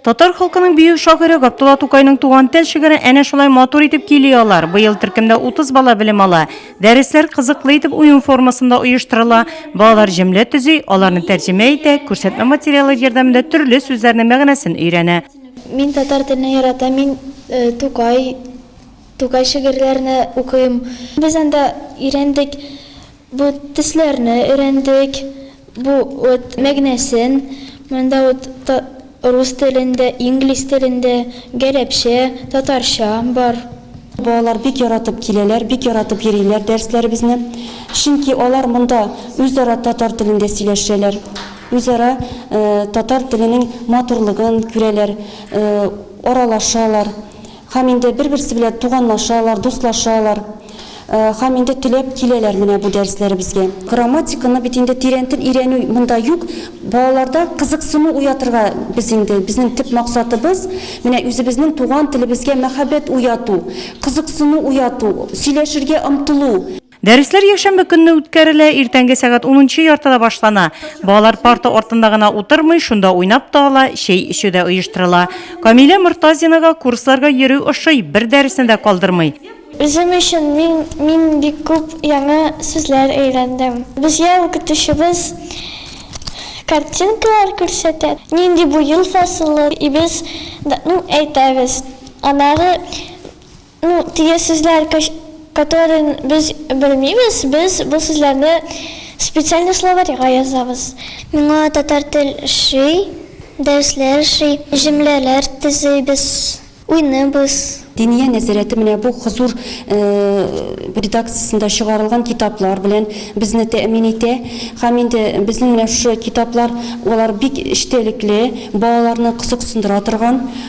Татар халкының бию шагыйре Габдулла Тукайның туган тел шигырен әнә шулай матур итеп кили алар. Быел төркемдә 30 бала белем ала. Дәресләр кызыклы итеп уен формасында оештырыла. Балалар җөмлә төзи, аларны тәрҗемә итә, күрсәтмә материалы ярдәмендә төрле сүзләрнең мәгънәсен өйрәнә. Мин татар теленә ярата, мин э, Тукай Тукай шигырьләрне укыйм. Без анда өйрәндек, бу төсләрне өйрәндек, бу вот мәгънәсен, монда вот та рус телендә, инглиз телендә, гарәпчә, татарча бар. Балалар бик яратып киләләр, бик яратып йөриләр дәресләребезне. Чөнки алар монда үзара татар телендә сөйләшәләр, үзара татар теленең матурлыгын күрәләр, аралашалар. Һәм инде бер-берсе белән туганлашалар, дуслашалар. Һәм инде теләп киләләр менә бу дәресләребезгә. Грамматиканы бит инде тирәнтен өйрәнү монда юк. Балаларда кызыксыну уятырга без инде, безнең төп максатыбыз, менә үзебезнең туган телебезгә мәхәббәт уяту, кызыксыну уяту, сөйләшергә омтылу. Дәресләр якшәмбе көнне үткәрелә, иртәнге сәгать унынчы яртыда башлана. Балалар парта артында гына утырмый, шунда уйнап та ала, чәй эчү дә оештырыла. Камилә Мортазинага курсларга йөрү ошый, бер дәресне дә калдырмый. Үзем өчен мин мин бик күп яңа сүзләр өйрәндем. Безгә укытучыбыз картинкалар күрсәтә, нинди бу ел фасылы, и без, ну, әйтәбез. Аннары Ну, теге сүзләр которыйн без белмибез, без бу сүзләрне специальный словарьга язабыз. Миңа татар тел ши, дәресләр ши, җөмләләр төзибез, уйныйбыз. Диния нәзарәте менә бу Хозур редакциясендә чыгарылган китаплар белән безне тәэмин итә. Һәм инде безнең менә шушы китаплар, алар бик эчтәлекле, балаларны кызыксындыра торган.